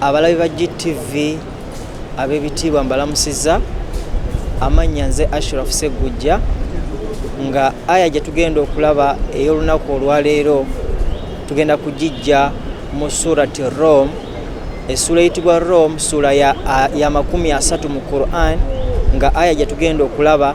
abalabi ba gtv ab'ebitiibwa mbalamusiza amannya nze ashraf seggujja nga aya gye tugenda okulaba ey'olunaku olwaleero tugenda kugijja mu surati rome essuula eyitibwa rome ssuula ya makumi asatu mu quran nga aya gye tugenda okulaba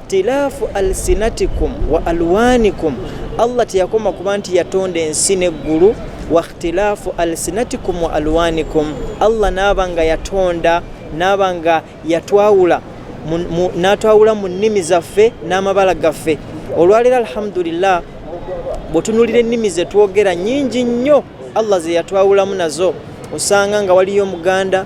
ikhtilaafu alsinatikum wa alwanikum allah teyakoma kuba nti yatonda ensi neggulu wa ikhtilaafu alsinatikum wa alwanikum allah naaba nga yatonda naaba nga yatwawula natwawula mu nnimi zaffe n'amabala gaffe olwaleero alhamdulillah bwetunulira ennimi zetwogera nyingi nnyo allah zeyatwawulamu nazo osanga nga waliyo omuganda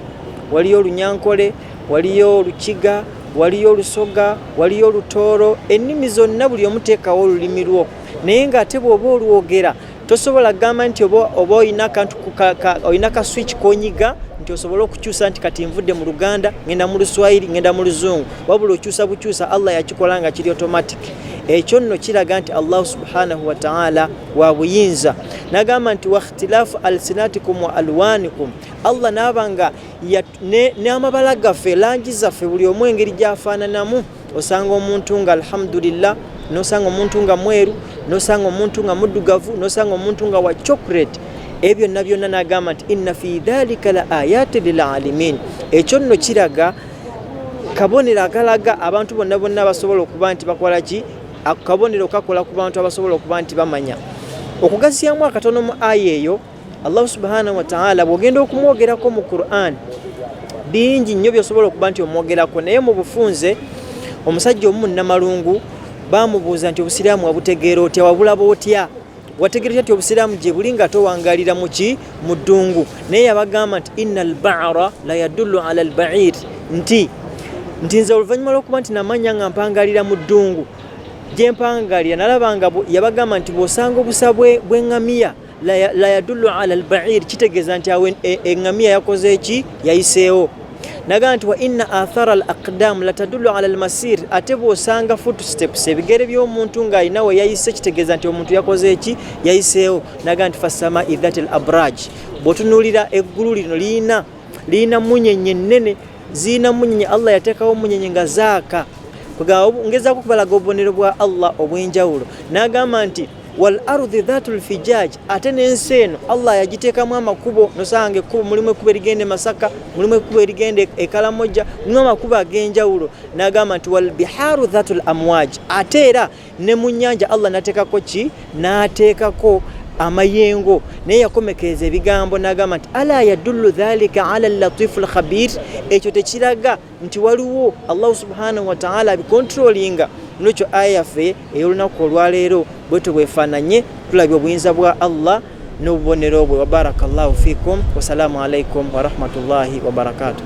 waliyo olunyankole waliyo olukiga waliyo olusoga waliyo olutooro ennimi zonna buli omuteekawo olulimi lwo naye ng'ate bw'oba olwogera tosobola kugamba nti oba olina kantu olina ka switch konyiga nti osobole okukyusa nti kati nvudde mu luganda ngenda mu luswayiri ngenda mu luzungu wabula okyusa bukyusa allah yakikola nga kiri automatic ekyo nno kiraga nti allahu subhanahu wataala wa buyinza nagamba nti wakhtilafu alsinatikum wa alwanikum allah naaba nga n'amabala gaffe langi zaffe buli omu engeri gyafaananamu osanga omuntu nga alhamdulillah nosanga omuntu nga mweru nosanga omuntu nga muddugavu nosanga omuntu nga wa chocolate ebyo byonna byonna nagamba nti inna fi dhalika la ayati lilalimin ekyo nno kiraga kabonero akalaga abantu bonna bonna abasobola okuba nti bakola ki akabonero kakola ku bantu abasobola okuba nti bamanya okugasiyamu akatono mu aya eyo allahu subhanahu wataala bwogenda okumwogerako mu quran bingi nnyo byosobola okuba nti omwogerako naye mu bufunze omusajja omu munamalungu bamubuuza nti obusiraamu wabutegeera otya wabulaba otya wategeera otya nti obusiraamu gye buli nga towangalira muki mu ddungu naye yabagamba nti ina albara la yadullu ala albair nti nti nze oluvannyuma lwokuba nti namanya nga mpangalira mu ddungu gye mpangalira nalaba nga yabagamba nti bwosanga obusa bwengamiya bwe la yadullu ala albair kitegeeza nti awo eŋŋamiya e, yakoze eki yayiseewo nagamba nti wa inna athara al aqdam la tadullu ala almasir ate bw'osanga footsteps ebigere by'omuntu ng'alina we yayise kitegeeza nti omuntu yakoze eki yayiseewo nagamba nti fassama idhat al abraj bw'otunuulira eggulu lino liyina liyina munyenye nnene ziyina munyenye allah yateekawo munyenye nga zaaka ngezako okubalaga obubonero bwa allah obw'enjawulo n'agamba nti wal ardhi dhatul fijaj, ate n'ensi eno Allah yagiteekamu amakubo. Nosanga ekkubo mulimu ekkubo erigenda e Masaka, mulimu ekkubo erigenda e Kalamoja, mulimu amakubo ag'enjawulo. N'agamba nti wal biharu dhatul amwaj, ate era ne mu nnyanja Allah nateekako ki? N'ateekako amayengo naye yakomekereza ebigambo n'agamba nti ala yadullu dhalika ala latifu lkhabir, ekyo tekiraga nti waliwo allahu subhanahu wataala abikontrolinga nolwekyo aya yaffe ey'olunaku olwaleero bwetyo bwefaananye tulabye obuyinza bwa allah n'obubonero bwe wabaraka llahu fikum wasalaamu alaikum warahmatullahi wabarakatuh